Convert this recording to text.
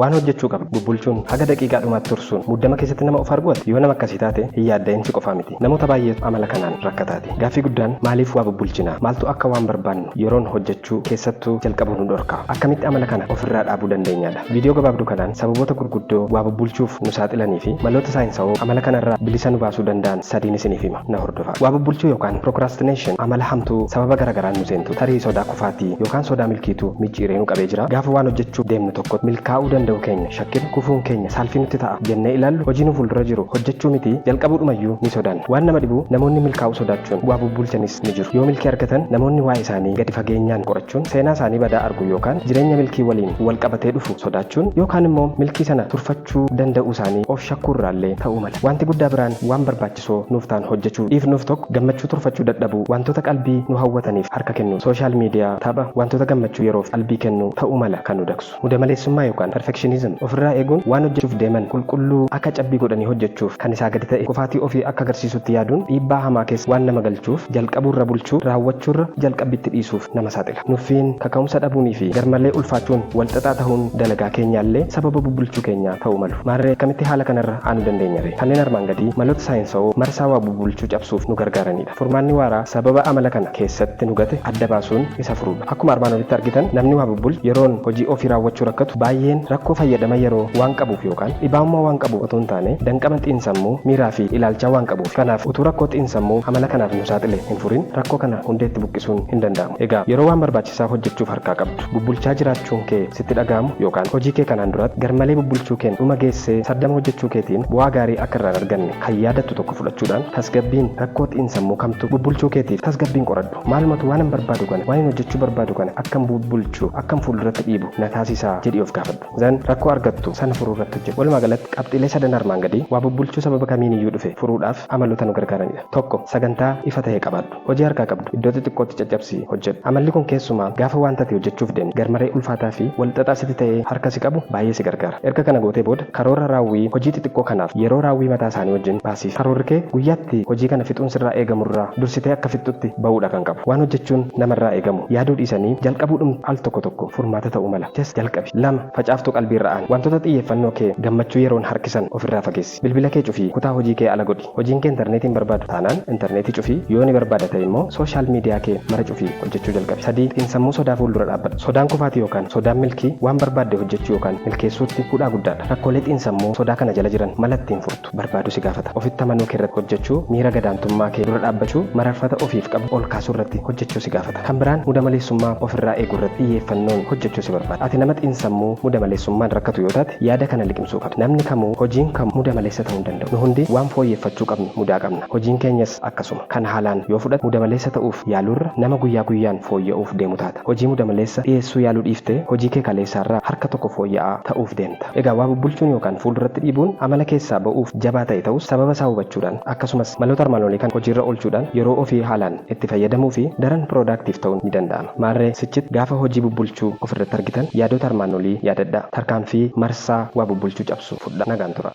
Waan hojjechuu qabdu bubbulchuun haga daqiiqaa dhumaatti tursuun muddama keessatti nama of arguu ati yoo nama akkasii taate hin yaadda'in si qofaa miti namoota baay'eetu amala kanaan rakkataati. Gaaffii guddaan maaliif waa bubbulchina? Maaltu akka waan barbaannu yeroon hojjechuu keessattuu jalqabu nu dhorka? Akkamitti amala kana of irraa dhaabuu dandeenyaadha? Viidiyoo gabaabduu kanaan sababoota gurguddoo waa bubbulchuuf nu saaxilanii fi maloota saayinsawoo amala kana irraa bilisa nu baasuu danda'an sadiin isiniif hima. na hordofaa. Waa bubbulchuu yookaan procrastination amala hamtuu sababa gara garaan nu seentu tarii sodaa kufaatii yookaan sodaa milkiitu micciiree nu qabee jira. Gaafa waan hojjechuu deemnu tokkotti milkaa'uu danda'uu keenya shakkinu kufuun keenya saalfii nutti ta'a jennee ilaallu hojii nu fuuldura jiru hojjechuu miti jalqabuudhumayyuu ni sodaanna. Waan nama dhibu namoonni milkaa'uu sodaachuun waa bubbulchanis ni jiru. Yoo milkii argatan namoonni waa'ee isaanii gadi fageenyaan qorachuun seenaa isaanii badaa arguu yookaan jireenya milkii waliin wal qabatee dhufu sodaachuun yookaan immoo milkii sana turfachuu danda'uu isaanii of shakkuu irraallee ta'uu mala. Waanti guddaa biraan waan barbaachisu. barbaachisoo nuuf ta'an hojjechuu dhiifnuuf 1 Gammachuu turfachuu dadhabuu Wantoota qalbii nu hawwataniif harka kennuun Social media, tapha, wantoota gammachuu yeroof qalbii kennu ta'uu mala kan nu dagsu Mudamaleessummaa yookaan perfectionism ofirraa eeguun waan hojjechuuf deeman qulqulluu akka cabbii godhanii hojjechuuf kan isaa gadi ta'e kufaatii ofii akka agarsiisutti yaaduun dhiibbaa hamaa keessa waan nama galchuuf jalqabuurra bulchuu raawwachuurra jalqabbiitti dhiisuuf nama saaxila Nuffiin, kaka'umsa dhabuunii fi garmalee ulfaachuun walxaxaa tahuun dalagaa keenyaallee sababa bubbulchuu keenyaa ta'uu malu. Maarree akkamitti haala kanarra aanu dandeenya ree? Kanneen armaan gadii maloota saayinsawoo marsaa waa bubulchuu cabsuuf nu gargaaraniidha. Furmaanni waaraa sababa amala kana keessatti nu gate adda baasuun isa furuudha. Akkuma armaan olitti argitan namni waa bubbulchu yeroon hojii ofii raawwachuu rakkatu baay'een rakkoo fayyadama yeroo waan qabuuf yookaan dhibaa'ummaa waan qabuuf otuu hin taane danqama xiinsammuu, miiraa fi ilaalchaa waan qabuufi. Kanaaf utuu rakkoo xiinsammuu amala kanaaf nu saaxile hin furin rakkoo kana hundeetti buqqisuun hin danda'amu. Egaa yeroo waan barbaachisaa hojjechuuf harkaa qabdu. Bubbulchaa jiraachuun kee sitti dhaga'amu yookaan hojii kee kanaan duratti garmalee bubbulchuu keen dhuma geessee sardama hojjechuu keetiin bu'aa gaarii akka irraa hin arganne kan yaadattu tokko fudhachuudhaan tasgabbiin rakkoo xiinsammuu kamtu bubbulchuu keetiif tasgabbiin qoradhu. Maalumatu waanan barbaadu kana, waanin hojjechuu barbaadu kana akkan bubbulchu, akkan fuulduratti dhiibu na taasisa jedhii of gaafadhu. Then rakkoo argattu sana furuu irratti hojjedhu. Walumaa galatti qabxiilee sadan armaan gadii waa bubbulchuu sababa kamiiniyyuu dhufe furuudhaaf amaloota nu gargaaranidha. 1, Sagantaa ifa tahe qabaadhu. Hojii harkaa qabdu iddoo xixiqqootti caccabsii hojjedhu. Amalli kun keessumaa gaafa waanta ati hojjechuuf deemtu garmaree ulfaataa fi wal xaxaa sitti ta'ee harka si qabu baay'ee si gargaara. Erga kana gootee booda karoora raawwii hojii xixiqqoo kanaaf yeroo raawwii mataa isaanii wajjin baasiif. Karoorri kee guyyaatti hojii kana fixuun sirraa eegamu irraa dursitee akka fixxutti ba'uudha kan qabu. Waan hojjechuun nama irraa eegamu yaaduu dhiisanii jalqabuudhumti al tokko tokko furmaata ta'uu mala. Just jalqabi. 2, Facaaftuu qalbii irra aani. Wantoota xiyyeeffannoo kee gammachuu yeroon harkisan of irraa fageessi. Bilbila kee cufii kutaa hojii kee ala godhi. Hojiin kee interneetii hin barbaadu taanaan interneetii cufii, yoo ni barbaada ta'e immoo social media kee mara cufii hojjechuu jalqabi. 3, Xiinsammuu sodaa fuuldura dhaabbadhu. Sodaan kufaatii yookaan sodaan milkii waan barbaadde hojjechuu yookaan milkeessuutti hudhaa guddaadha. Rakkoolee xiinsammuu sodaa kana jala jiran mala ittiin furtu barbaaduu si gaafata. Ofitti amanuu kee irratti hojjechuu, miira gadaantummaa kee dura dhaabbachuu, mararfata ofiif qabdu ol kaasuu irratti hojjechuu si gaafata. Kan biraan muda maleessummaa of irraa eeguu irratti xiyyeeffannoon hojjechuu si barbaada. Ati nama xiinsammuu muda maleessummaan rakkatu yoo taate yaada kana liqimsuu qabda. Namni kamuu hojiin kamuu muda maleessa ta'uu hin danda'u. Nu hundi waan fooyyeffachuu qabnu mudaa qabna. Hojiin keenyas akkasuma. Kana haalaan yoo fudhatte muda maleessa ta'uuf yaaluurra nama guyyaa guyyaan fooyya'uuf deemu taata. Hojii muda maleessa dhiyeessuu yaaluu dhiiftee hojii kee kaleessaarraa harka tokko fooyya'aa ta'uuf deemta. Egaa waa bubbulchuun yookaan fuulduratti dhiibuun amala keessaa ba'uuf jabaa ta'e ta'us sababa isaa hubachuudhaan akkasumas maloota armaan olii kana hojiirra oolchuudhaan yeroo ofii haalaan itti fayyadamuufi daran productive ta'uun ni danda'ama. Maarree sichit gaafa hojii bubbulchuu of irratti argitan yaadoota armaan olii yaadadhaa. Tarkaanfii marsaa waa bubbulchuu cabsu fudhaa. Nagaan turaa.